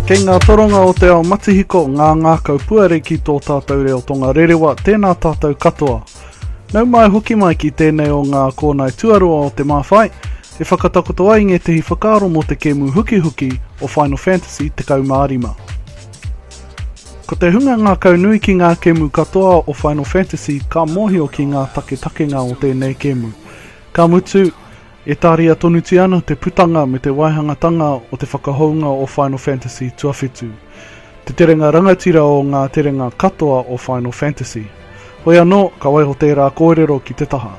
Kei ngā toronga o te ao matihiko, ngā ngākau puare ki tō tātou reo tonga rerewa, tēnā tātou katoa. Nau mai hoki mai ki tēnei o ngā kōnae tuarua o te Māwhai, e whakatakoto ai ngētehi whakaaro mō te kēmu hukihuki o Final Fantasy 15. Ko te hunga ngākau nui ki ngā kēmu katoa o Final Fantasy ka mōhio ki ngā taketakenga o tēnei kēmu. Ka mutu, e tāria tonutia ana te putanga me te waihangatanga o te whakahounga o Final Fantasy Tuawhitu, te terenga rangatira o ngā terenga katoa o Final Fantasy. Hoi anō, ka waiho tērā kōrero ki te taha.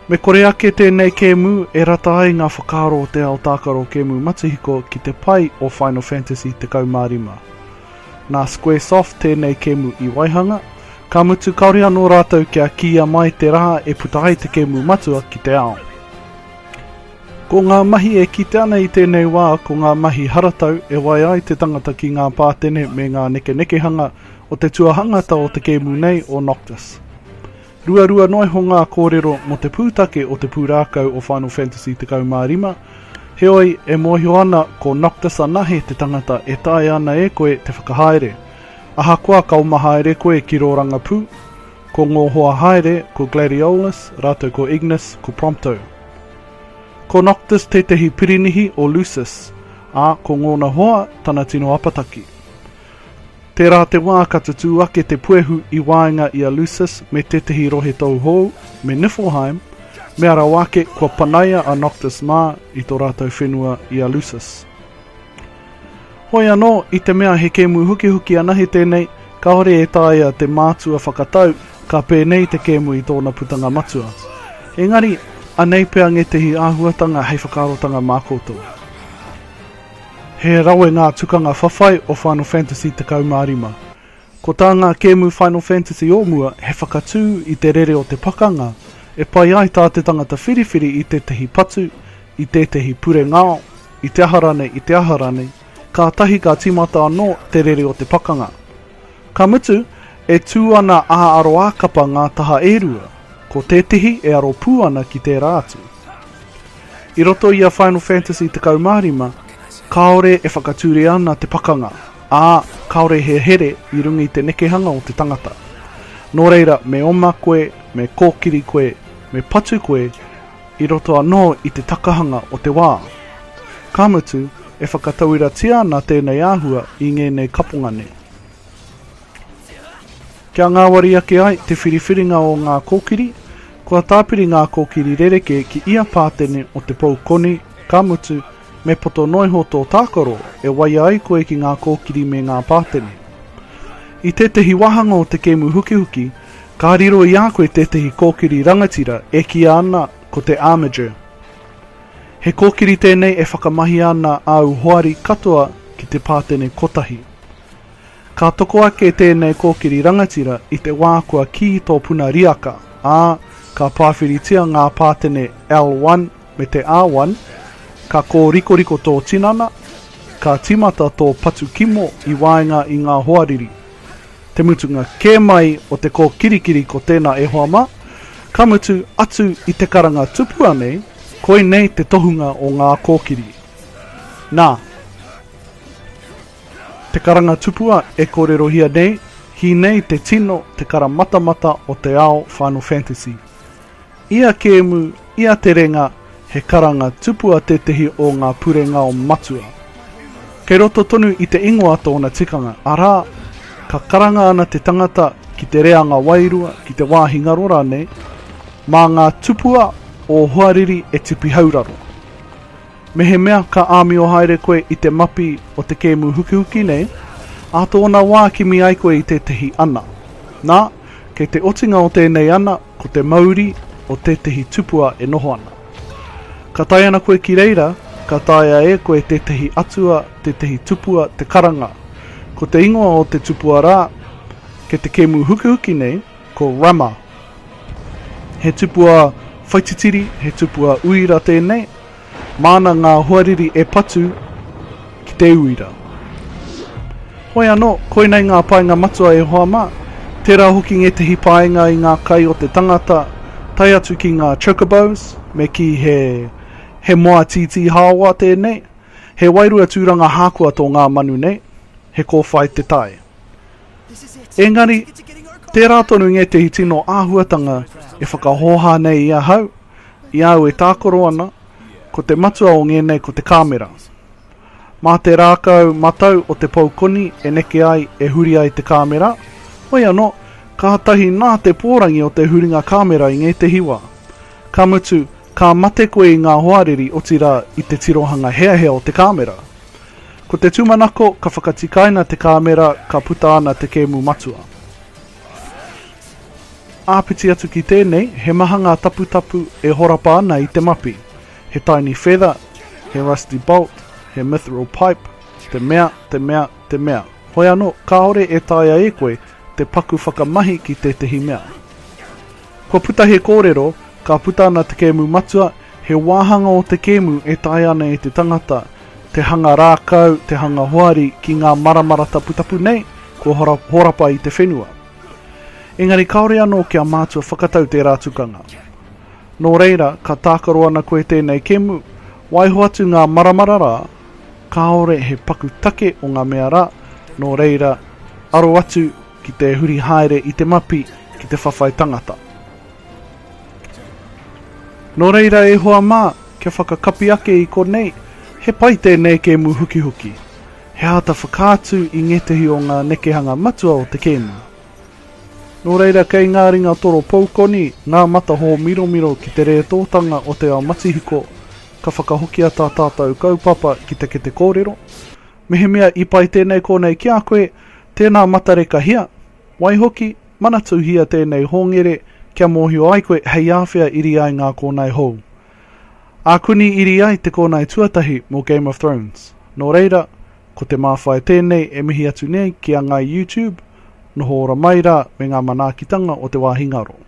Me kore ake tēnei kēmu e rata ai ngā whakaaro o te ao tākaro kēmu matihiko ki te pai o Final Fantasy 15. Nā Square Soft tēnei kēmu i waihanga, ka mutu kāore anō rātou kia kīia mai te rā e puta ai te kēmu matua ki te ao. Ko ngā mahi e kite ana i tēnei wā ko ngā mahi haratau e wae ai te tangata ki ngā pātene me ngā nekenekehanga o te tuahangata o te kēmu nei o Noctis. Ruarua noa iho ngā kōrero mō te pūtake o te pūrākau o Final Fantasy 15, heoi, e mōhio ana ko Noctis anahe te tangata e taea ana e koe te whakahaere. Ahakoa ka oma haere koe ki rō rangapū, ko ngō hoa haere, ko Gladiolus rātou ko Ignis, ko Prompto. Ko Noctis tētehi pirinihi o Lucis, ā, ko ngōna hoa tana tino apataki. Tērā te wā ka tutū ake te puehu i waenga i a Lucis me tētehi rohe tou hou, me Niflheim, mea rawa ake kua panaia a Noctis mā i tō rātou whenua i a Lucis. Hoi anō, i te mea he kēmu hukihuki anahe tēnei, kāore e taea te mātua whakatau ka pēnei te kēmu i tōna putanga matua. Engari, anei pea ngētehi āhuatanga hei whakaarotanga mā koutou. He rawe ngā tukanga whawhai o Final Fantasy 15. Ko tā ngā kēmu Final Fantasy o mua he whakatū i te rere o te pakanga e pai ai tā te tangata whiriwhiri i tētahi patu, i tētahi pure ngao, i te aha rānei, i te aha rānei, kātahi ka tīmata anō te rere o te pakanga. Ka mutu, e tū ana ā aroākapa ngā taha e rua, ko tētehi e aro pū ana ki tērā atu. I roto i a Final Fantasy 15, kāore e whakature ana te pakanga, ā, kāore he here i runga i te nekehanga o te tangata. Nō reira, me oma koe, me kōkiri koe, me patu koe, i roto anō i te takahanga o te wā. Ka mutu, e whakatauiratia ana tēnei āhua i ngēnei kaponga nei. Kia ngāwari ake ai te whiriwhiringa o ngā kōkiri, kua tāpiri ngā kōkiri rerekē ki ia pātene o te pou koni, ka mutu, me poto noiho tō tākaro e waia ai koe ki ngā kōkiri me ngā pātene. I tētehi wāhanga o te kēmu hukihuki, Ka riro i a koe tētehi kōkiri rangatira e kīa ana ko te Armiger. He kōkiri tēnei e whakamahia ana āu hoari katoa ki te pātene kotahi. Ka toko ake tēnei kōkiri rangatira i te wā kua kī tō puna riaka, ā, ka pāwhiritia ngā pātene L1 me te R1, ka kōrikoriko tō tinana, ka tīmata tō patu kimo i waenga i ngā hoariri. Te mutunga kē mai o te kōkirikiri ko tēnā e hoa mā, ka mutu, atu i te karanga tupua nei, koinei te tohunga o ngā kōkiri. Nā, te karanga tupua e kōrerohia nei, Hīnei te tino te karamatamata o te ao Final Fantasy. I a Kēmu, i a Te Renga, he karanga tupua tētehi o ngā purengao matua. Kei roto tonu i te ingoa tōna tikanga, arā, ka karanga ana te tangata ki te reanga wairua, ki te wāhi ngaro rānei, mā ngā tupua o hoariri e tipihauraro. Mehemea ka āmio haere koe i te mapi o te kēmu hukihuki nei, ā tōna wā kimi ai koe i tētehi ana. Nā, kei te otinga o tēnei ana ko te mauri o tētehi tupua e noho ana. Ka tae ana koe ki reira, ka taea e koe tētehi atua, tētehi tupua te karanga. Ko te ingoa o te tupua rā, kei te kēmu hukihuki nei, Ko Rama He tupua whaititiri, he tupua uira tēnei. Māna ngā hoariri e patu ki te uira. Hoi anō, koinei ngā painga matua e hoa mā. Tērā hoki ngētehi painga i ngā kai o te tangata, tae atu ki ngā chocobos, me kī he he moa tītī hāoa tēnei. He wairua tūranga hākoa tō ngā manu nei, he kōwhai te tae. Engari, tērā tonu ngētehi tino āhuatanga e whakahōhā nei i ahau, i a au e tākaro ana, ko te matua o ngēnei ko te kāmera. Mā te rākau matau o te pou koni e neke ai, e huri ai te kāmera, hoi anō, kātahi nā te pōrangi o te huringa kāmera i ngētehi wā, ka mutu, ka mate koe i ngā hoariri otirā i te tirohanga heahea o te kāmera. Ko te tūmanako, ka whakatikaina te kāmera ka puta ana te kēmu matua. Āpiti atu ki tēnei, he maha ngā taputapu e horapa ana i te mapi. He tiny feather, he rusty bolt, he mithril pipe, te mea, te mea, te mea. Hoi anō, kāore e taea e koe te paku whakamahi ki tētehi mea. Kua puta he kōrero, ka puta ana te kēmu matua, he wāhanga o te kēmu e taea ana e te tangata, te hanga rākau, te hanga hoari ki ngā maramara taputapu nei kua horapa i te whenua. Engari kāore anō kia mātua whakatau tērā tukanga. Nō reira, ka tākaro ana koe tēnei kemu, waiho atu ngā maramara rā, kāore he paku take o ngā mea rā, nō reira, aro atu ki te huri haere i te mapi ki te whawhai tangata. Nō reira e hoa mā, kia whakakapi ake i konei, he pai tēnei kēmu hukihuki. He āta whakaatu i ngētehi o ngā nekehanga matua o te kēmu. Nō reira kei ngā ringa toro poukoni ngā matahō miromiro ki te rētōtanga o te ao matihiko, ka whakahokia tā tātou kaupapa ki te kete kōrero. Mehemea i pai tēnei konei ki a koe, tēnā matarekahia, Waihoki, manatuhia tēnei hongere kia mōhio ai koe hei āwhea iri ai ngā kōnae hou. Ākuni iri ai te kōnae tuatahi mō Game of Thrones. Nō reira, ko te māwhai tēnei e mihi atu nei ki a ngāi YouTube, noho ora mai rā me ngā manaakitanga o te wāhi ngaro.